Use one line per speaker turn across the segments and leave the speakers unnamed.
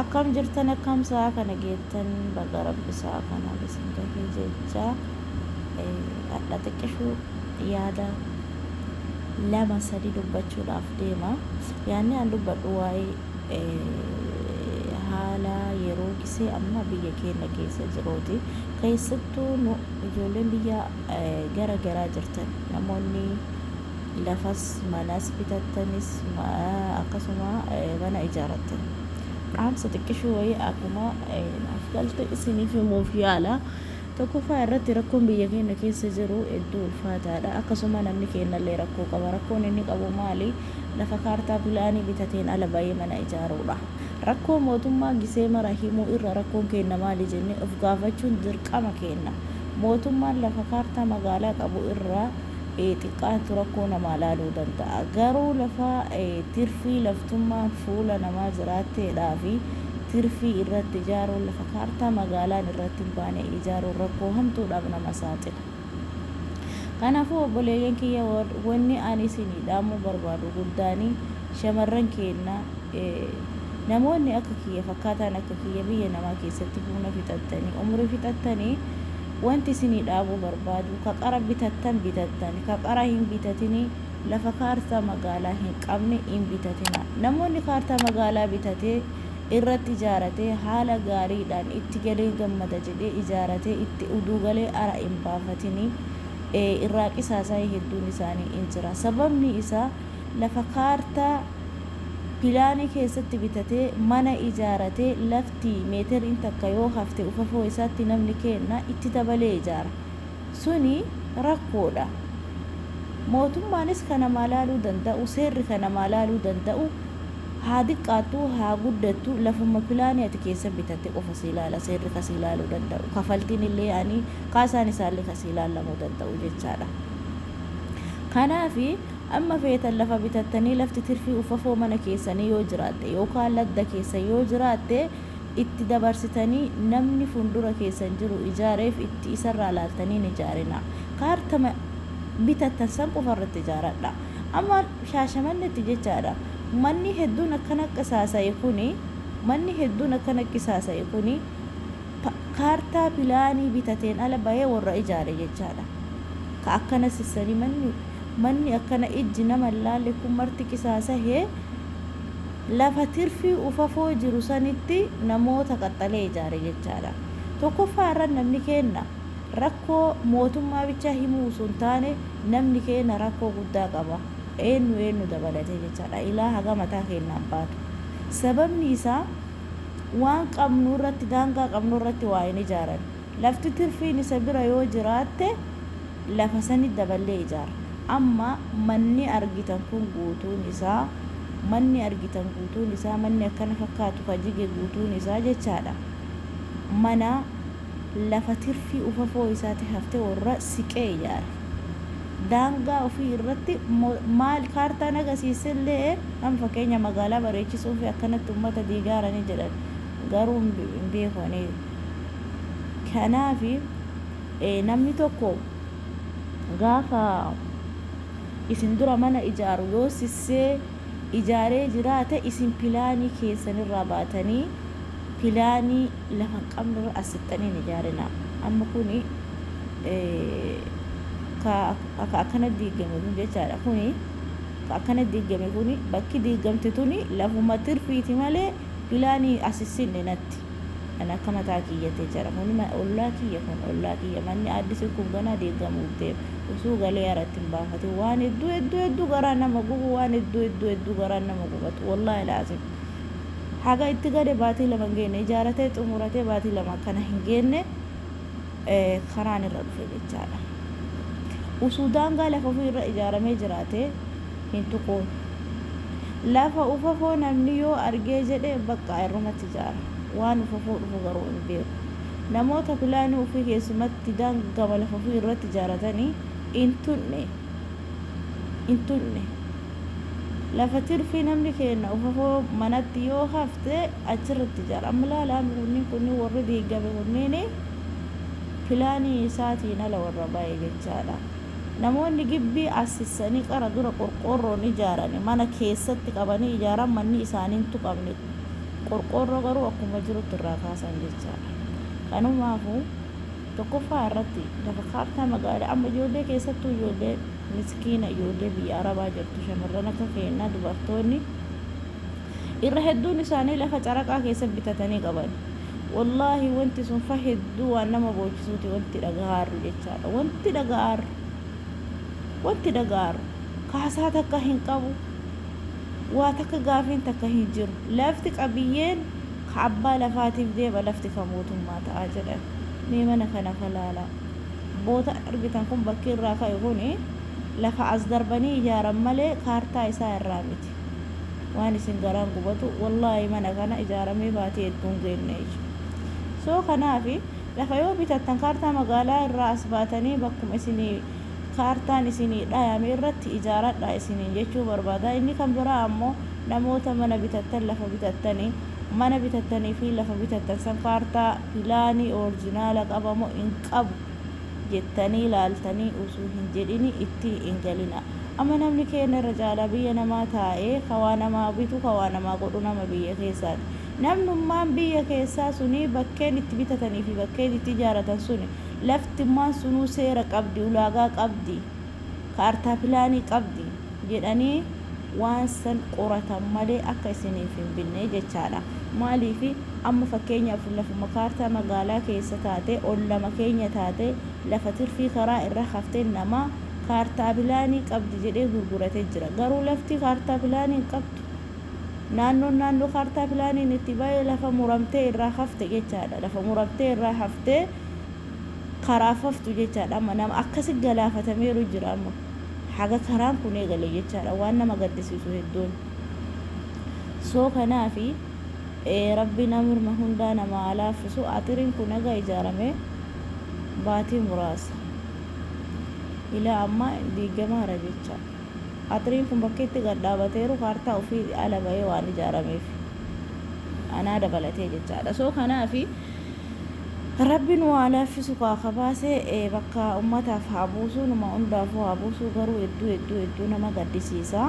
Akkam jirtan akkam sa'a kana geettan baga rabbi sa'a kanaan isin gahee jechaa hadha xiqqishuu yaada lama sadi dubbachuudhaaf deema yaanni an dubbadhu waa'ee haala yeroo gisee amma biyya keenya keessa jiruuti keessattuu nu ijoolleen biyya gara garaa jirtan namoonni lafas manas bitattanis akkasuma mana ijaarrattan dhaamsa xiqqishuu wayii akkuma naaf galte isiniif himuuf yaala. Tokkoffaa irratti rakkoon biyya keenya keessa jiru hedduu ulfaataadha. Akkasuma namni keenyallee rakkoo qaba. Rakkoon inni qabu maali? Lafa kaartaa pilaanii bitateen ala ba'ee mana ijaaruudha. Rakkoo mootummaa gisee mara himuu irra rakkoon keenya maali jennee of gaafachuun dirqama keenya. Mootummaan lafa kaartaa magaalaa qabu irraa xiqqaatu rakkoo namaa laaluu danda'a. Garuu lafa tirfii laftummaan fuula namaa jiraatteedhaa fi tirfii irratti ijaaruun lafa kaartaa magaalaan irratti hin baane ijaaruun rakkoo hamtuudhaaf nama saaxila. Kanaafuu obboleeyyan kiyya wanni ani isinii dhaamuu barbaadu guddaani shamarran keenna namoonni akka kiyya fakkaataan akka kiyya biyya namaa keessatti humna fixattanii umrii fixattanii Wanti isinii dhaabuu barbaadu, ka qara bitattan bitattan, ka qara hin bitatinii, lafa kaartaa magaalaa hin qabne hin bitatinaa. Namoonni kaartaa magaalaa bitatee, irratti ijaaratee, haala gaariidhaan itti galeen gammada jedhee ijaaratee itti uduu galee ara hin baafatinii. Ee, irraa qisaasaayii hedduun isaanii hin jira. Sababni isaa, lafa kaartaa, pilaanii keessatti bitatee, mana ijaaratee, lafti. itti meeterriin takka yoo hafte ufafoo isaatti namni keenna itti dabalee ijaara. Suni rakkoodha. Mootummaanis ka namaa laaluu danda'u, seerri ka namaa laaluu danda'u haa diqqaattu haa guddattu lafumma pilaanii ati keessa bitatte qofa sii laala seerri ka sii laaluu danda'u. Kafaltiinillee ani kaasaan isaallee ka sii laallamuu danda'u jechaadha. Kanaafi. Amma feetan lafa bitattanii lafti tirfii uffafoo mana keessanii yoo jiraatte yookaa ladda keessan yoo jiraatte itti dabarsitanii namni fundura keessan jiru ijaareef itti isarraa laaltanii hin ijaarinaa. Kaartama bitattan san qofa irratti ijaaradhaa. Amma Shaashamannetti jechaadha manni hedduun akkana qisaasa'e kuni manni hedduun akkana qisaasa'e kuni, kaartaa pilaanii bitateen ala bahee worra ijaare jechaadha. Ka akkana sissani manni manni akkana ijji nama hin laalle kun marti qisaasahee lafa tirfii ufafoo jiru sanitti namoota qaxxalee ijaare jechaadha. Tokkoffaa irra namni keenna rakkoo mootummaa bichaa himuu osoo hin taane namni keenna rakkoo guddaa qaba. Eennu eennu dabalatee jechaadha. Ilaa haga mataa keennaan baatu. Sababni isaa. waan qabnu irratti, daangaa qabnu irratti waa hin ijaaran. Lafti tirfiin isa bira yoo jiraatte lafa sani daballee ijaara. Amma manni argitan kun guutuun isaa, manni argitan guutuun isaa, manni akkana fakkaatu ka jige guutuun isaa jechaa dha, mana lafa tirfii ufafoo isaati hafte warra siqee ijaare. daangaa ofii irratti maal kaartaan agasiisse illee an fakkeenya magaalaa bareechisuufi akkanatti ummata diigaarani jedhan garuu hin beeku ani kanaafi namni tokko gaafa isin dura mana ijaaru yoo sissee ijaaree jiraate isin pilaanii keessan irraa baatanii pilaanii lafa hin qabne irra as sixxanii hin ijaarinaa amma kuni ka ka akkana diiggame kun jechaadha kuni ka akkana diiggame kuni bakki diiggamte tuni lafuma tirfiiti malee pilaanii as hin sinne natti kan akka mataa kiyyate jira kuni ma- ollaa kiyya kun ollaa kiyya manni addisi kun ganaa diiggamuuf deema usuu galee haratti hin baafatin waan hedduu hedduu hedduu garaa nama gubu waan hedduu hedduu hedduu garaa nama gubatu wallaahi laazim haga itti gale baatii lama hin geenne ijaaratee xumuratee baatii lama akkana hin geenne karaan irra dhufe jechaadha. Usuu daangaa lafa ofii irra ijaaramee jiraate hin tuquun. Lafa ufafoo namni yoo argee jedhe baqqaa irrumatti ijaara. Waan ufafoo dhufu garuu hin beeku. Namoota pilaanii ofii keessumatti daangama lafa ofii irratti ijaaratanii hin tunne. Hin tunne. lafa tirfii namni keenna uhahoo manatti yoo hafte achirratti ijaara amma laala amma kunniin kunniin warri diiggame kunniin pilaanii isaatiin ala warra baye jechaadha namoonni gibbii assissanii qara dura qorqoorroon ijaarani mana keessatti qabanii ijaaran manni isaanii hin tuqamne qorqoorroo garuu akkuma jirutti irraa kaasan jechaadha kanumaafu tokkoffaa irratti lafa kaartaa magaalaa amma ijoollee keessattuu ijoollee miskiina ijoollee biyya arabaa jirtu shamarran akka keennaa dubartoonni irra hedduun isaanii lafa caraqaa keessa bitatanii qaban wallaahi wanti sun fa hedduu waan nama boochisuuti wanti dhagahaarru jechaadha wanti dhagahaarru wanti dhagahaarru kaasaa takka hin qabu waa takka gaafiin takka hin jiru lafti qabiyyeen ka abbaa lafaatiif deema lafti ka mootummaa ta'a jedhan mee mana kana ka laalaa Bootaan argitan kun bakki irraa ka'e kun lafa as darbanii ijaaran malee kaartaa isaa irraa miti. Waan isin garaan gubatu wallaahi mana kana ijaaramee baatii hedduu hin geenne ija. So kanaaf lafa yoo bitattan kaartaa magaalaa irraa as baatanii bakkuma isinii kaartaan isinii dhayame irratti ijaaradhaa isiniin jechuu barbaada. Inni kan biraa ammoo namoota mana bitattan lafa bitattanii mana bitattanii fi lafa bitattan san kaartaa, pilaanii, orijinaala qaba moo hin qabu jettanii laaltanii utuu hin jedhini itti hin galinaa. Amma namni keenna irra caalaa biyya namaa taa'ee ka waa namaa bitu, ka waa namaa godhu nama biyya keessaati. Namnummaan biyya keessaa suni bakkeen itti bitatanii fi bakkeen itti ijaaratan suni, laftummaan sunuu seera qabdi, ulaagaa qabdi. kaartaa pilaanii qabdi jedhanii waan san qoratan malee akka isiniif hin binne jechaadha. Maaliif amma fakkeenyaaf lafuma kaartaa magaalaa keessa taatee ollama keenya taatee lafa tirfii karaa irra haftee nama kaartaa pilaanii qabdi jedhee gurgurate jira. Garuu lafti kaartaa pilaanii hin qabdu. Naannoon naannoo kaartaa pilaaniin itti ba'e lafa muramtee irraa hafte jechaadha. Lafa muramtee irraa haftee karaaf haftu jechaadha amma nama akkasi galaafatameeru jira amma haga karaan kun eegale jechaadha waan nama gaddisiisu hedduun soo kanaafi rabbi namrma hundaa nama haa laaffisu axiriin kun haga ijaarame baatii muraasa ilaa amma diigamaara jecha axiriin kun bakki itti gad dhaabateeru kaartaa ofii ala bahee waan ijaarameef anaa dabalatee jechaadha soo kanaafi Rabbi nuu haa laaffisu kaa ka baase bakka ummataaf haa buusu numa undaafuu haa buusuu garuu hedduu hedduu hedduu nama gaddisiisa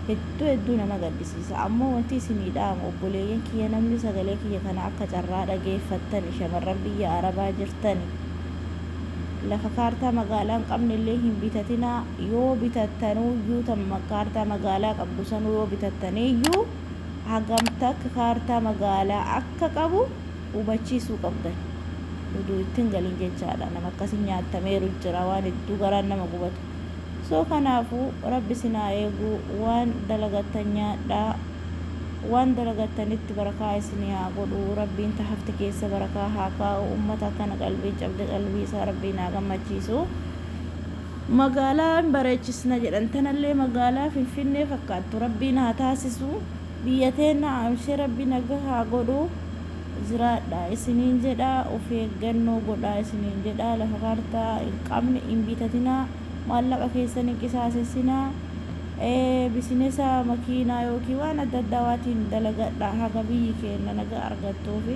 hedduu hedduu nama gaddisiisa ammoo wanti isinii dhaamu obboleeyyan kiyya namni sagalee kiyya kana akka carraa dhageeffattani shamarran biyya arabaa jirtani lafa kaartaa magaalaa hin qabne illee hin bitatinaa yoo bitattanuuyyuu tan kaartaa magaalaa qabdu sanuu yoo bitattaniiyyuu hagam takka kaartaa magaalaa akka qabu hubachiisuu qabdan. Uduu itti hin galin jechaadha. Nama akkasii nyaatameeru jira waan hedduu garaan nama gubatu. So kanaafuu Rabbi isin haa eegu waan dalagattan nyaadhaa waan dalagattanitti barakaa isinii haa godhu Rabbiin ta hafte keessa barakaa haa kaa'u ummata akkana qalbiin cabde qalbii isaa Rabbiin haa gammachiisu. Magaalaa in bareechisna jedhan tanallee magaalaa finfinnee fakkaattu rabbiin haa taasisu biyya teenna aamshee rabbi naga haa godhu jiraadha isiniin jedha of eeggannoo godhaa isiniin jedha lafa kaartaa in qabne in bitatina maallaqa keessan hin qisaasessina bisinesa makiinaa yookiin waan adda addaa waatiin dalagadha haga biyyi keenna naga argattuufi.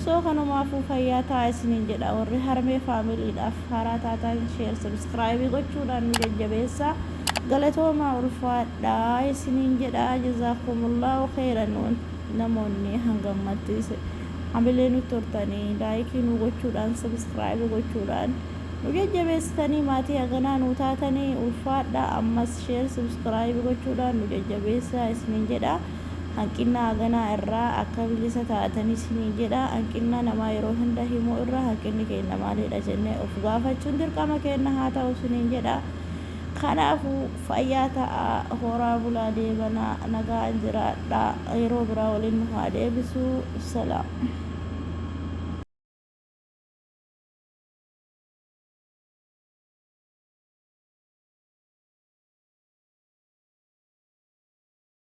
So kanumaafuu fayyaa ta'aa isiniin jedha warri harmee family dhaaf haaraa taataan share subscribe gochuudhaan nu jajjabeessaa galatoomaa ulfaadhaa isiniin jedha jazaakumullahu kheyran namoonni hanga ammatti hamilee nutti hortanii like nu gochuudhaan subscribe gochuudhaan nu jajjabeessitanii maatii haganaa nu taatanii ulfaadhaa ammas share subscribe gochuudhaan nu jajjabeessaa isiniin jedha Hanqinna haganaa irraa akka bilisa taatan isiniin jedha. Hanqinna namaa yeroo hunda himuu irra hanqinni keenna maaliidha jennee of gaafachuun dirqama keenna haa ta'u isiniin jedha. Kanaafuu fayyaa ta'aa, horaa bulaa deebanaa, nagaan jiraadhaa. Yeroo biraa waliin nu haa deebisu. Salaam.